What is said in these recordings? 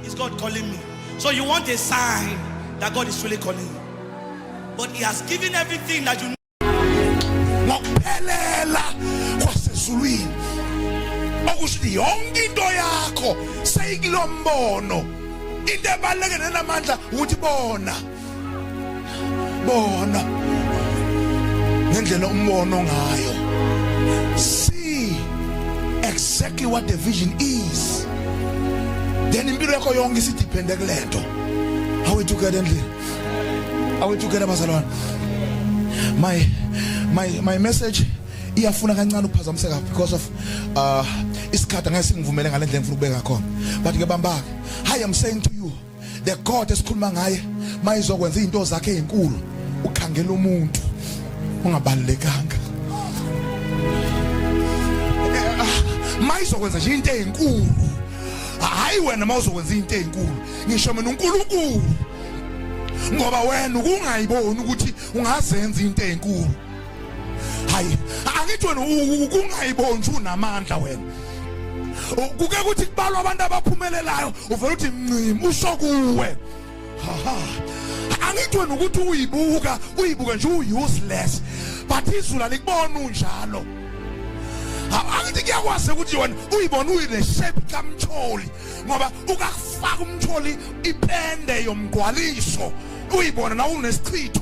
Is God calling me? So you want a sign that God is really calling you. But he has given everything that you need. ngokuphelela kwasezulwini okusho ukuthi yonke into yakho seyikilombono into ebaluleke nenamandla ukuthi bona bona ngendlela umbono ngayo see exactly what the vision is then impilo yakho yonke isidiphende kulento awethukela endlini awethukela abazalwane my my my message iyafuna kancane ukuphazamiseka because of uh isikhathi angeke singivumele ngalendlela engifuna ukubeka khona but ke bambake hi i'm saying to you the god esikhuluma ngaye mayizokwenza izinto zakhe ezinkulu ukhangela umuntu ungabalekanga eh, ah, mayizokwenza nje into ezinkulu hayi wena mawuzokwenza into ezinkulu ngisho mina uNkulunkulu ngoba wena ukungayiboni ukuthi ungazenza into ezinkulu hayi angithi wena ukungayibonji unamandla wena kuke kuthi kubalwa abantu abaphumelelayo uvela uthi ncim usho kuwe angithi wena ukuthi uyibuka uyibuka nje u-useless but izulu alikubona unjalo angithi kuyakwazi ukuthi yona uyibona uyile shape kamtholi ngoba ukakufaka umtholi ipende yomgwaliso uyibona na unesichitho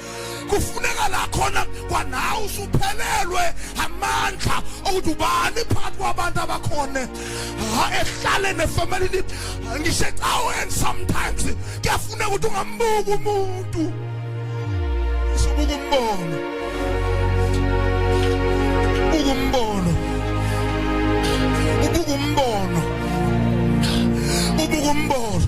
kufuneka la khona kwanawe usuphelelwe amandla okuthi ubani phakathi kwabantu abakhona ehlale nefamilini ngisho ecaweni sometimes kuyafuneka ukuthi ungambuki umuntu usubuka umbono ubuka umbono ubuka umbono ubuka umbono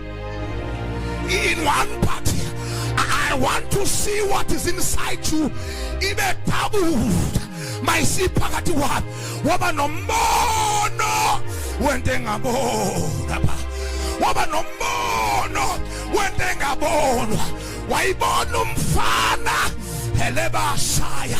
in one part I want to see what is inside you ibe doubled mayisiphakathi wami waba nombono wento engabona ba waba nombono wento engabonwa wayibona umfana helebashaya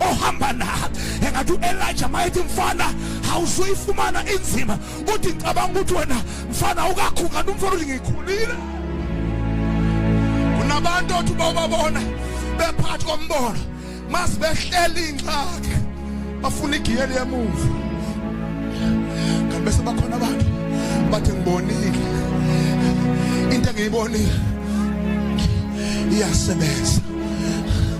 ohamba na engathi u-elija mayethi mfana awuzuyifumana inzima uthi ngicabanga ukuthi wena mfana ukakhukani umfana uthi ngikhulile kunabantu othi bawubabona bephathi kombono masibehleli ingxaki bafuna igiyeli yemumva kanti bese bakhona abantu bathi ngibonile into engiyibonile iyasebenza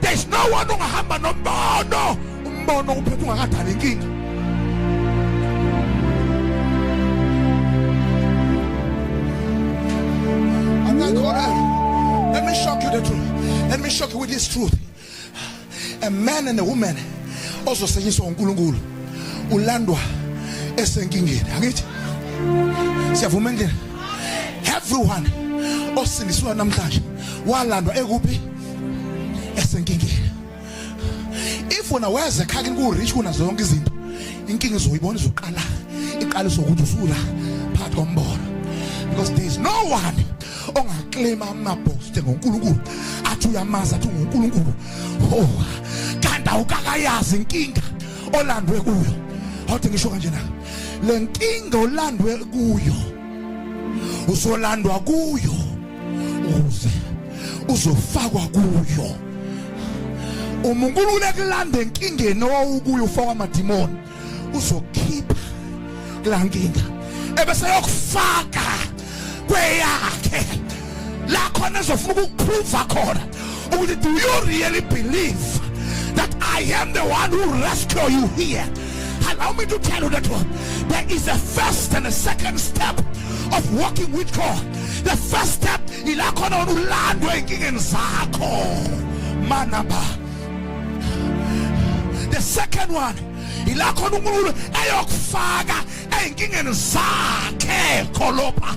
there's no one ongahamba nombono umbono uphethe ungakadala inkinga Let me shock you the truth. Let me shock you with this truth. A man and a woman also saying so uNkulunkulu ulandwa esenkingeni angithi siyavuma endlini everyone osindiswa namhlanje walandwa ekuphi esenkingeni if wena weza ekhaya kini ku-rich kuna zonke izinto inkinga izoyibona izoqala iqala izokuthi usula phakathi kombono because there is no one ongaklima amabhoste ngonkulunkulu athi uyamazi athi ungunkulunkulu oh kanti awukakayazi inkinga olandwe kuyo awuthi ngisho kanje na le nkinga olandwe kuyo usolandwa kuyo ukuze uzofakwa kuyo uma uNkulunkulu ekulanda enkingeni owawukuyo ufakwa amadimoni uzokhipha kulankinga ebese yokufaka kweyakhe la khona ezofuna ukukuphruva khona ukuthi do you really believe that I am the one who rescue you here allow me to tell you that one there is a first and a second step of walking with God the first step ila khona wena ulandwe enkingeni zakho manaba the second one ila khona unkulunkulu eyokufaka ezinkingeni zakhe kholopha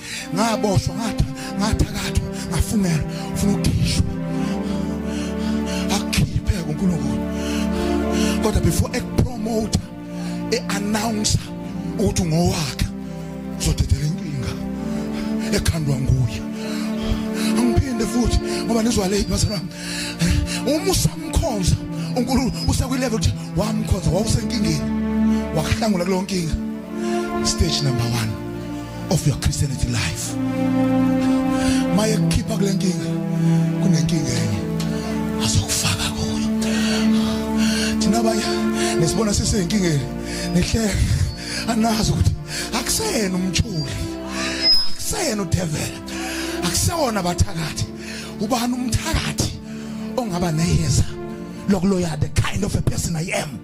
ngaboshwa ngathi ngathakathwa ngafungela ufuna ukukhishwa akhiphe kuNkulunkulu kodwa before ekupromote eannounce ukuthi ngowakhe uzodedela inkinga ekhandwa nguye angiphinde futhi ngoba nizwa late bazalwa uma usamkhonza uNkulunkulu usekwi level ukuthi wamkhonza wawusenkingeni wakuhlangula kulonkinga stage number 1 of your Christianity life maye kukhipha kule nkinga kunenkinga enye azokufaka kuyo thina abanye nesibona siseyinkingeni nihleke anazi ukuthi akusena umthuli akusena udevela akusewona abathakathi ubani umthakathi ongaba neyeza lokuloya the kind of a person i am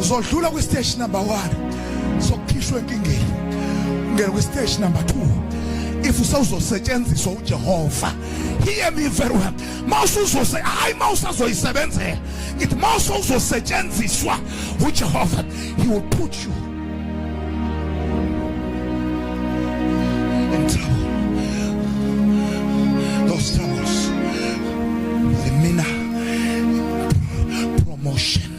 uzodlula kwi stage number 1 sokukhishwa enkingeni ungena kwi stage number 2 if usawuzosetshenziswa uJehova hear me very well mawusuzose hayi mawusazoyisebenzela ngithi mawusozosetshenziswa uJehova he will put you in trouble those troubles the mina promotion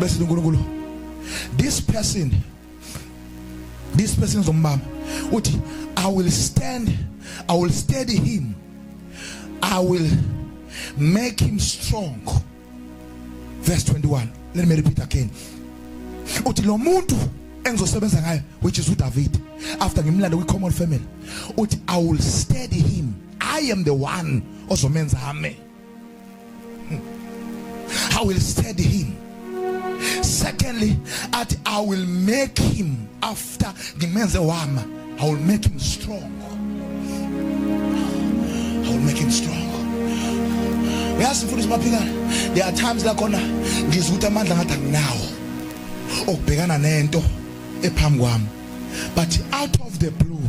bese uNkulunkulu this person this person zombamba uthi i will stand i will steady him i will make him strong verse 21 let me repeat again uthi lo muntu engizosebenza ngayo which is uDavid after ngimlanda kwi common family uthi i will steady him i am the one ozomenza ame I will steady him secondly athi i will make him after ngimenze wama i will make him strong i will make him strong uyazi mfundisi maphikana there are times la khona ngizwa ukuthi amandla ngathi anginawo okubhekana nento ephambi kwami but out of the blue